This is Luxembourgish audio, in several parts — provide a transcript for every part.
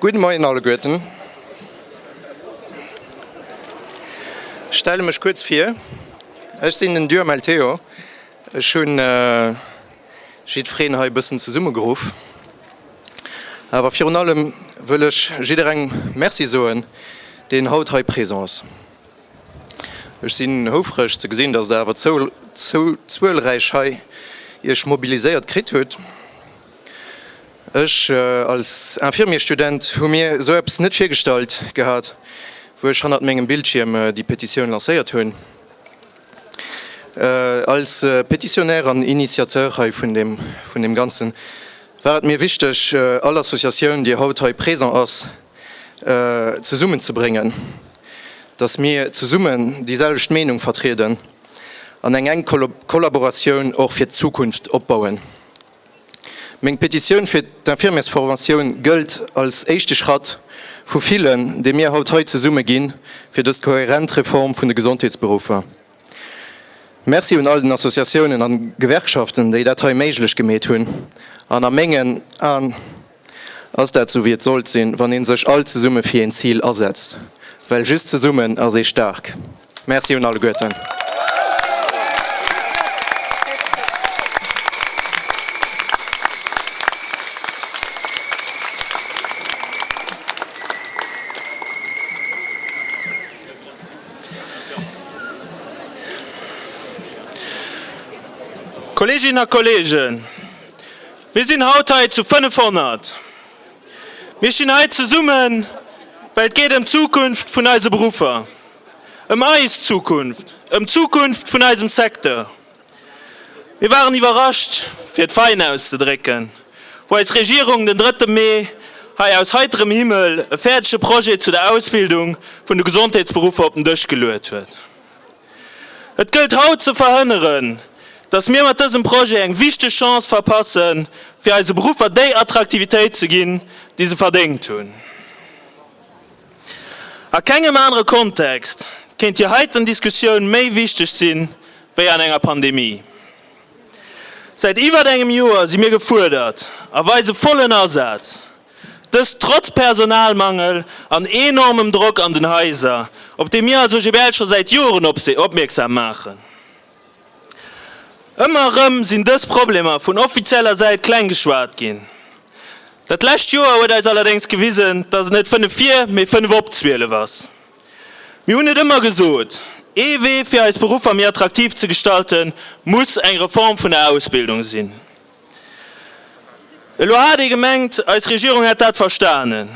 Gudde Moien alleguerten. Stelle mech kuerz vir. Ech sinn den Duhamel Théo. Ech hunn jiddwereen hei e bëssen zesummegeruff. Awer virun allem wëll ech jidderengem Merci soen, deen haut hei présent ass. Ech sinn houfreg ze gesinn, dass Der awer esou zuelräich hei Iech mobiliséiert kritt hutt. Ech als Infirmier-Student hu mir esou eppes net virgestallt gehat, wou ech hannert mengem Bildschierm déi Petitioun lancéiert hunn. Als Petitionnaire an Initiateur hei vun deem Ganzen war et mir wichteg, all Associatioun, déi haut hei présent ass, zesummen ze bréngen, datt mir zesummen déi selwecht Meenung vertrieden an eng enk Kollaboratioun och fir d'Zukunft opbauen. Meng Petitioun fir d'Infirmiersformatioun gëllt als éischte Schratt vu villen, dee mir haut hei zesumme ginn, fir dës kohärent Reform vun de Gesondheetsberuffer. Merci un all den Associatiounen an Gewerkschaften, déi dat hei méiglech gemeet hunn an a mengen Aen Ass dat sou wéi et sollt sinn, wann een sech all zesumme fir een Zil asetzt? Well just zesummen ass ee staark. Merci un alleguerten. Kolleeginnen a Kolleegen, Mir sinn haut hei zu 500. Mir stinn hei zesummen, well et geet ëm d'Zukunft vun eise Beruffer, ëm eis Zukunft, ëm d'Zukunft vun eisem Secteur. Mir waren iwwerrascht, fir et fein auszedrécken, wou eis Regierung den drëtte Mee hei aus heiterem Himmel e fäerdege Projet zu der Ausbildung vun de Gesondheetsberuffer op den Dësch geluet huet. Et gëllt haut ze verhënneren, dass mir mat dësem Projet eng wichteg Chance verpassen, fir eise Beruffer déi Attraktivitéit ze ginn, déi se verdéngt hunn. A kengem anere Kontext kéint déi heiten Diskussioun méi wichteg sinn, wéi an enger Pandemie. Säit iwwert engem Joer si mir gefuerdert a weise vollen Asaz, Dëst trotz Personalmangel an enormem Drock an den Haiser, op dee mir als OGBL scho säit Joren opmierksam maachen. Ëmmer erëm sinn dës Problemer vun offizieller Säit kleng geschwat ginn. Dat lescht Joer huet eis allerdéngs gewisen, datt et net fënnef vir, mee fënnef op zwielef ass. Mir hunn et ëmmer gesot, ee Wee fir eis Beruffer méi attraktiv ze gestalten, muss eng Reform vun der Ausbildung sinn. Elo hat ee gemengt, eis Regierung hätt dat verstanen.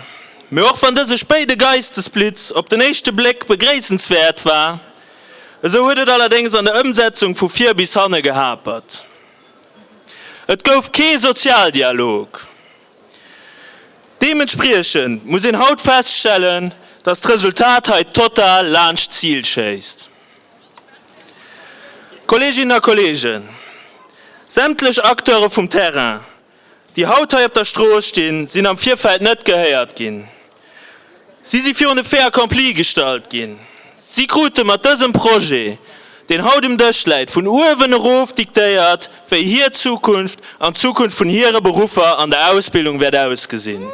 Mee och wann dëse spéide Geistesblitz op den éischte Bléck begréissenswäert war, esou huet et allerdéngs an der Ëmsetzung vu vir bis hanne gehapert. Et gouf kee Sozialdialog. Deementspriechend muss een haut feststellen, datt d'Resultat hei total laanscht d'Zil schéisst. Kolleeginnen a Kolleegen, sämtlech Acteure vum Terrain, déi haut hei op der Strooss stinn, sinn am Virfeld net gehéiert ginn. Si si virun de Fait accompli gestallt ginn. Si krute mat dësem Projet, deen haut um Dësch läit, vun uewen erof diktéiert, wéi hir Zukunft an d'Zukunft vun hire Beruffer an der Ausbildung wäert ausgesinn.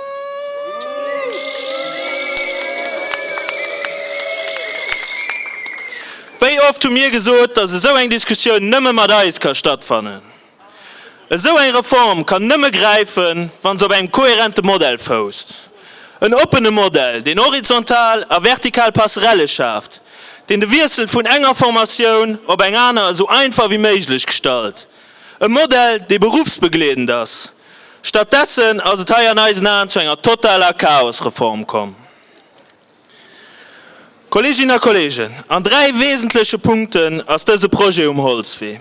Wéi oft hu mir gesot, dass esou eng Diskussioun nëmme mat eis ka stattfannen? Esou eng Reform kann nëmme gräifen, wann se op engem kohärente Modell fousst. En oppene Modell, deen horizontal a vertikal Passerelle schaaft, deen de Wiessel vun enger Formatioun op eng aner esou einfach wéi méiglech gestalt. E Modell, dee beruffsbegleedend ass. Statt dessen ass et hei an eisen Aen zu enger totaler Chaosreform komm. Kolleeginnen a Kolleegen, an dräi wesentleche Punkten ass dëse Projet um Holzwee.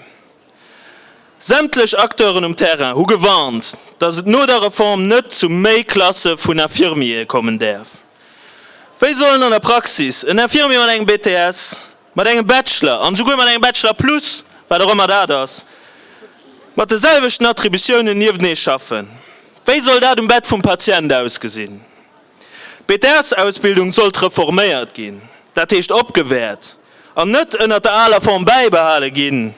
Sämtlech Acteuren um Terrain hu gewarnt, dass et no der Reform net zu méi Klasse vun Infirmiere kommen däerf. Wéi sollen an der Praxis en Infirmier mat engem BTS, mat engem Bachelor an esouguer mat engem Bachelor plus, wat och ëmmer dat ass, mat de selwechten Attributiounen niewtenee schaffen? Wéi soll dat um Bett vum Patient ausgesinn? D'Bedarfsausbildung sollt reforméiert ginn, dat heescht opgewäert, an net ënnert der aler Form bäibehale ginn.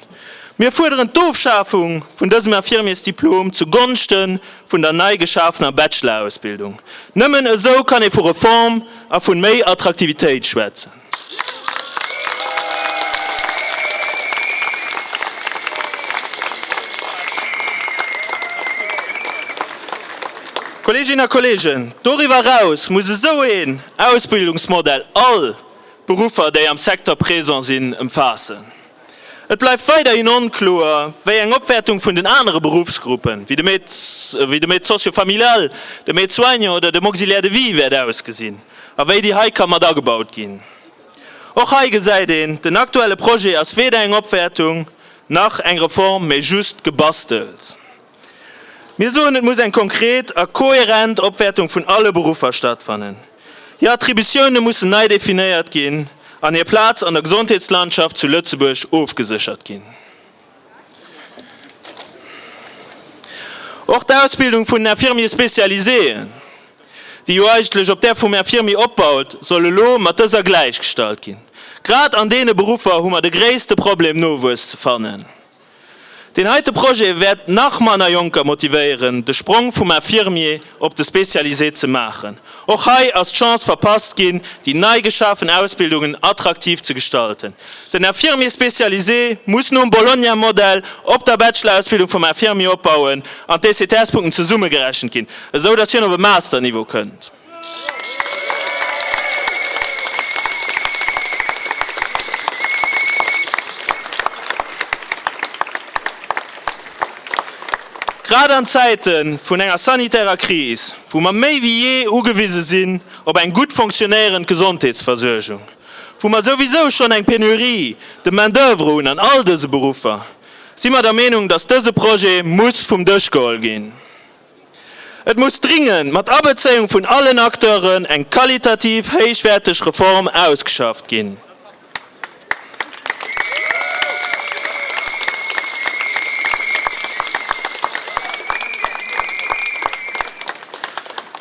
Mir fuerderen d'Ofschafung vun dësem Infirmiersdiplom zu Gonschte vun der nei geschafener Bachelor-Ausbildung. Nëmmen esou kann ee vu Reform a vun méi Attraktivitéit schwätzen. Kolleeginnen a Kolleegen, doriwwer eraus muss esou een Ausbildungsmodell all Beruffer, déi am Secteur présent sinn, ëmfaassen. Et bleift weiderhin onkloer, wéi eng Opwäertung vun den anere Beruffsgruppen, wéi dem Aide socio-familial, dem Aide soignant oder dem Auxiliaire de vie, wäert ausgesinn a wéi déi hei ka mat agebaut ginn. Och hei gesäit een, den aktuelle Projet ass weder eng Opwäertung nach eng Reform, mee just Gebastels. Mir soen, et muss eng konkret a kohärent Opwäertung vun alle Beruffer stattfannen. Hir Attributioune mussen nei definéiert ginn an hir Plaz an der Gesondheetslandschaft zu Lëtzebuerg ofgeséchert ginn. Och d'Ausbildung vun den Infirmiers spécialiséen, déi jo eigentlech op där vum Infirmier opbaut, soll elo mat dëser gläichgestallt ginn. Grad an deene Beruffer hu mer de gréisste Problem, Nowuess ze fannen. Deen heite Projet wäert nach manner Jonker motivéieren, de Sprong vum Infirmier op de Spécialisé ze maachen. Och hei ass d'Chance verpasst ginn, déi nei geschafen Ausbildungen attraktiv ze gestalten. Den Infirmier spécialisé muss nom Bologna-Modell op der Bachelor-Ausbildung vum Infirmier opbauen an d'ECTS-Punkten zesummegerechent ginn, esou datt hien op e Master-Niveau kënnt. Grad an Zäite vun enger sanitärer Kris, wou mer méi wéi jee ugewise sinn op eng gutt fonctionéierend Gesondheetsversuergung, wou mer souwisou schonn eng Pénurie de main d'oeuvre hunn an all dëse Beruffer, si mer der Meenung, dass dëse Projet muss vum Dësch geholl ginn. Et muss dringend, mat Abezéiung vun allen Acteuren, eng qualitativ héichwäerteg Reform ausgeschafft ginn.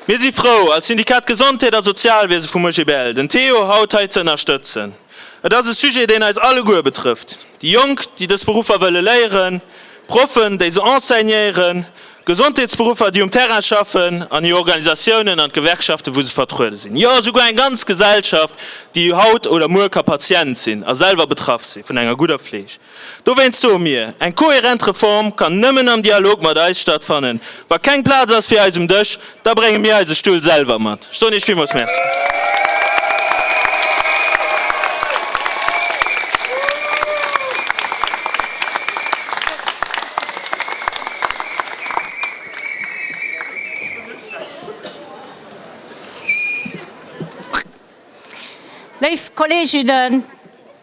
Mir si frou, als Syndikat Gesondheet a Sozialwiese vum OGBL, den Théo haut hei ze ënnerstëtzen. Et ass e Sujet, deen eis alleguer betrëfft, déi Jonk, déi dës Beruffer wëlle léieren, Proffen, déi se enseignéieren, Gesondheetsberuffer, déi um Terrain schaffen, an hir Organisatiounen an d'Gewerkschaften, wou se vertruede sinn. Jo, esouguer eng ganz Gesellschaft, déi haut oder muer ka Patient sinn a selwer betraff si vun enger gudder Fleeg. Dowéinst soe mir, Eng kohärent Reform kann nëmmen am Dialog mat eis stattfannen. Wa keng Plaz ass fir eis um Dësch, Da brénge mir eise Stull selwer mat. Ech soen Iech villmools Merci. Léif Kolleeginnen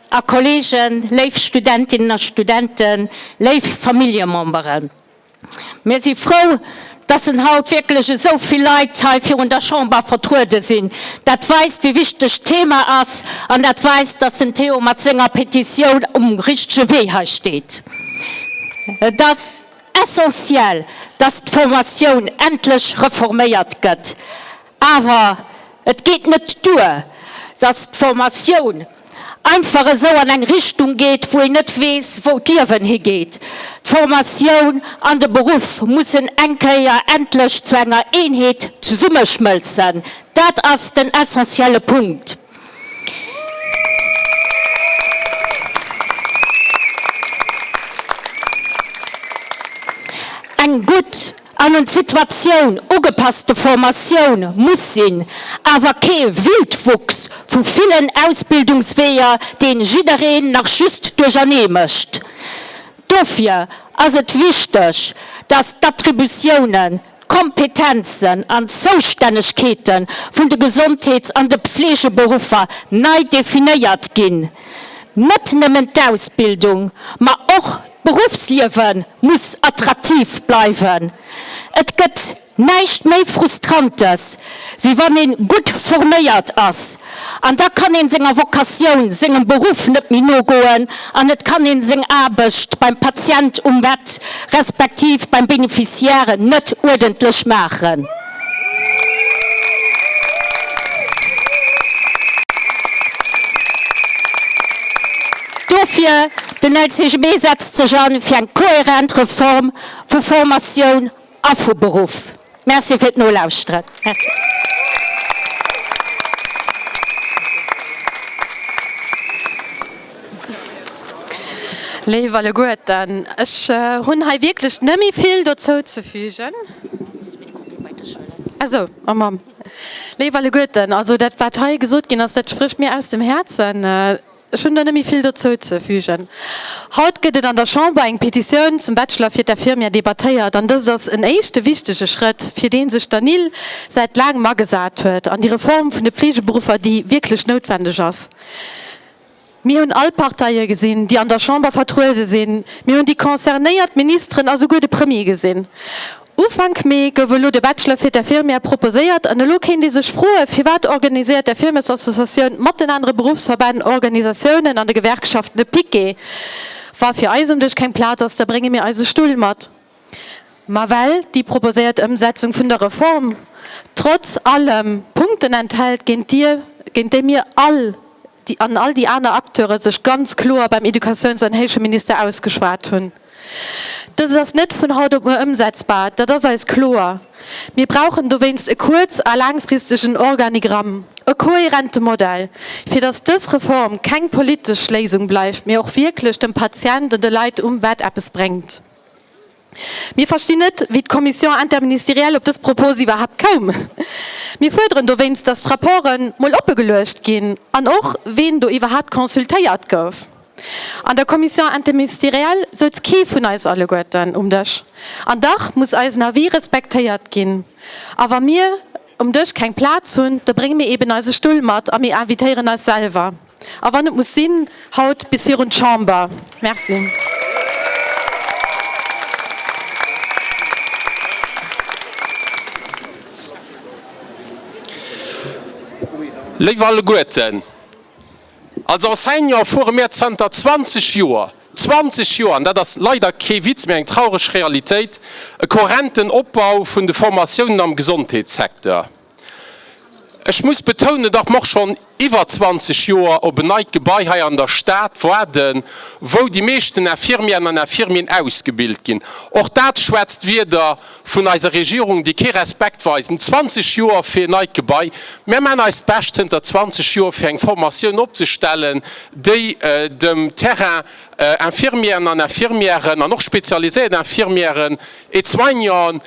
a Kolleegen, léif Studentinnen a Studenten, léif Familljememberen. Mir si frou, dass en haut wierklech esou vill Leit hei virun der Chamber vertruede sinn. Dat weist, wéi wichteg d'Thema ass, an dat weist, dass den Théo mat senger Petitioun um richtege Wee hei steet. Et ass essentiel, dass d'Formatioun endlech reforméiert gëtt. Awer et geet net duer, datt d'Formatioun einfach esou an eng Richtung geet, wou een net weess, wou d'Liewen higeet. D'Formatioun an de Beruff mussen eng Kéier endlech zu enger Eenheet zesummeschmëlzen. Dat ass den essentielle Punkt. Eng gutt. an un d'Situatioun ugepasste Formatioun muss sinn, awer kee Wildwuchs vu villen Ausbildungsweeër, deen jiddereen nach just duerchernee mécht. Dofir ass et wichteg, dass d'Attributiounen, d'Kompetenzen an d'Zoustännegkeete vun de Gesondheets an de Pflegeberuffer nei definéiert ginn, net nëmmen d'Ausbildung, ma och D'Beruffsliewe muss attraktiv bleiwen. Et gëtt näischt méi Frustrantes, wéi wann ee gutt forméiert ass. An da kann ee senger Vocatioun, sengem Beruff net méi nogoen an et kann ee seng Aarbecht beim Patient um Bett respektiv beim Beneficiaire net uerdentlech maachen. Dofir, Den LCGB setzt sech an fir eng kohärent Reform vu Formatioun a vu Beruff. Merci fir d'Nolauschteren. Léif Alleguerten, ech hunn hei wierklech net méi vill dozou ze fügen. Léif Alleguerten, also dat, wat hei gesot ginn ass, dat sprécht mir aus dem Häerzen. Ech hunn do net méi vill dozou ze fügen. Haut gëtt et an der Chamber eng Petitioun zum Bachelor fir d'Infirmière debattéiert. An dëst ass en éischte wichtege Schrëtt, fir dee sech d'ANIL säit laangem agesat huet, an déi Reform vun de Fleegeberuffer, déi wierklech noutwendeg ass. Mir hunn all d'Parteie gesinn, déi an der Chamber vertruede sinn. Mir hunn déi concernéiert Ministeren a souguer de Premier gesinn. Ufank Mee gouf elo de Bachelor fir d'Infirmière proposéiert an elo kéint ee sech froen, firwat organiséiert d'Infirmessassociatioun mat den anere Beruffsverbänn, Organisatiounen an de Gewerkschaften e Piquet? Wa fir eis um Dësch keng Plaz ass, da brénge mir eise Stull mat. Ma well déi proposéiert Ëmsetzung vun der Reform trotz allem Punkten enthält, géint déi mir all an all déi aner Acteure sech ganz kloer beim Educatiouns an Héicheminister ausgeschwat hunn, dëst ass net vun haut op muer ëmsetzbar, dat ass eis kloer. Mir brauchen dowéinst e kuerz a laangfristegen Organigramm, e kohärente Modell, fir datt dës Reform keng politesch Léisung bleift, mee och wierklech dem Patient an de Leit um Bett eppes bréngt. Mir verstinn net, wéi d'Commission interministérielle op dës Propos iwwerhaapt koum. Mir fuerderen dowéinst, datt d'Rapporten mol oppe geluecht ginn an och, ween do iwwerhaapt consultéiert gouf. An der Commission interministérielle souz kee vun eis alleguerten um Dësch. An dach muss eisen Avis respektéiert ginn. A wa mir um Dësch keng Plaz hunn, da brénge mir eeben eise Stull mat a mir invitéieren eis selwer. a wann et muss sinn, haut bis virun d'Chamber. Merci. Léif alleguerten, als Enseignant fuere mir zanter 20 Joer, 20 Joer, an dat ass leider kee Witz, mee eng traureg Realitéit, e kohärenten Opbau vun de Formatiounen am Gesondheetssecteur. Ech muss betounen, datt mer och schonn iwwer 20 Joer op en neit Gebai hei an der Stad waarden, wou déi meeschten Infirmièren an Infirmieren ausgebilt ginn. Och dat schwätzt Wieder vun eiser Regierung, déi kee Respekt weisen. 20 Joer fir en neit Gebai! Mer maachen eist Bescht zënter 20 Joer, fir eng Formatioun opzestellen, déi dem Terrain Infirmièren an Infirmieren an och spezialiséiert Infirmieren, Et soignant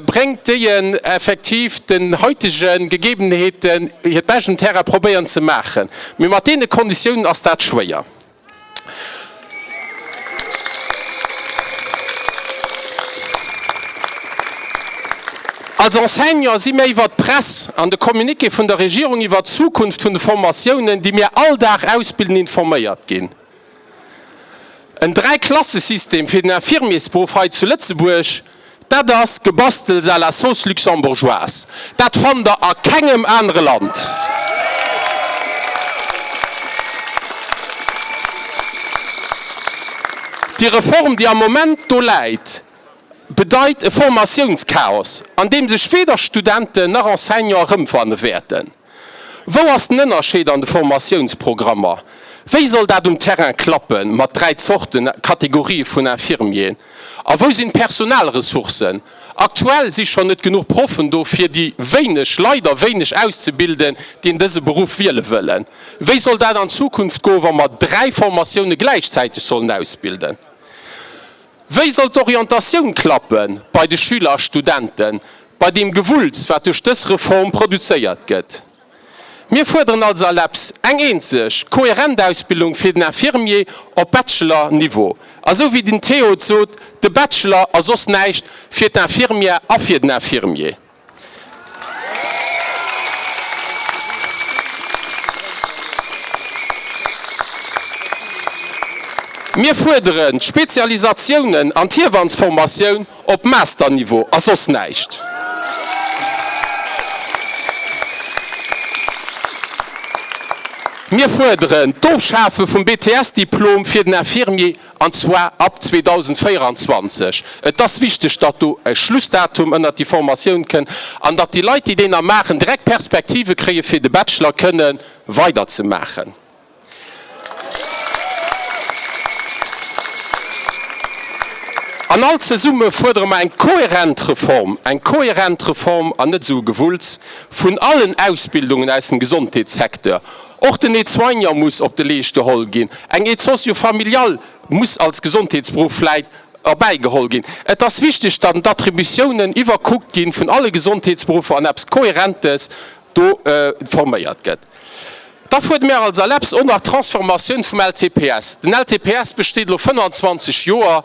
bréngt, déien effektiv den heitegen Gegebenheeten hiert Bescht um Terrain probéieren ze maachen, mee mat deene Konditiounen ass dat schwéier. Als Enseignant si mir iwwert d'Press an de Communiqué vun der Regierung iwwert d'Zukunft vun de Formatiounen, déi mir all Dag ausbilden, informéiert ginn. En Dräiklassesystem fir den Infirmiersberuff hei zu Lëtzebuerg, dat ass Gebastels à la sauce luxembourgeoise. Dat fannt Der a kengem anere Land. Déi Reform, déi am Moment do läit, bedeit e Formatiounschaos, an deem sech weder Studenten nach Enseignanten erëmfanne wäerten. Wou ass den Ënnerscheed an de Formatiounsprogrammer? Wéi soll dat um Terrain klappen mat dräi Zorten, Kategorië vun Infirmieren? A wou sinn d'Personalressourcen? Aktuell si schonn net genuch Proffen do fir déi wéineg, leider wéineg, auszebilden, déi en dëse Beruff wiele wëllen. Wéi soll dat an Zukunft goen, wa mer dräi Formatioune gläichzäiteg sollen ausbilden? Wéi soll d'Orientatioun klappen bei de Schüler a Studenten? bei deem Gewulls, wat duerch dës Reform produzéiert gëtt. Mir fuerderen als ALEPS eng eenzeg, kohärent Ausbildung fir den Infirmier op Bachelor-Niveau. A sou wéi den Théo et sot, de Bachelor ass soss näischt fir d'Infirmière a fir den Infirmier. Mir fuerderen d'Spezialisatiounen an d'Hiewannsformatioun Op Master-Niveau a soss näischt. Mir fuerderen d'Ofschafe vum BTS-Diplom fir den Infirmier, an zwar ab 2024. Et ass wichteg, datt do e Schlussdatum ënnert déi Formatioun kënn an datt déi Leit, déi deen da maachen, direkt Perspektive kréie fir de Bachelor kënne weiderzemaachen. An all zesumme fuerdere mer eng kohärent Reform, eng kohärent Reform an net esou e Gewulls vun allen Ausbildungen aus dem Gesondheetssecteur. Och den Aide-soignant muss op de Leescht geholl ginn, eng Aide socio-familiale muss als Gesondheetsberuff vläit erbäi geholl ginn. Et ass wichteg, datt d'Attributiounen iwwerkuckt gi vun alle Gesondheetsberuffer an eppes Kohärentes do forméiert gëtt. Da fuert mir als ALEPS och nach d'Transformatioun vum LTPS. Den LTPS besteet elo 25 Joer.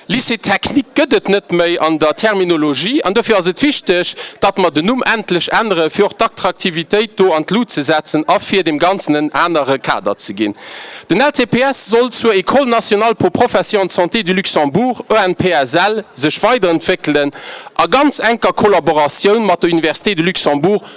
Lycée technique gëtt et net méi an der Terminologie an dofir ass et wichteg, datt mer den Numm endlech änneren, fir och d'Attraktivitéit do an d'Lut ze setzen a fir deem Ganzen en anere Kader ze ginn. Den LTPS soll zur École nationale pour professions en santé du Luxembourg, ENPSL, sech weiderentwéckelen a ganz enker Kollaboratioun mat der Université de Luxembourg,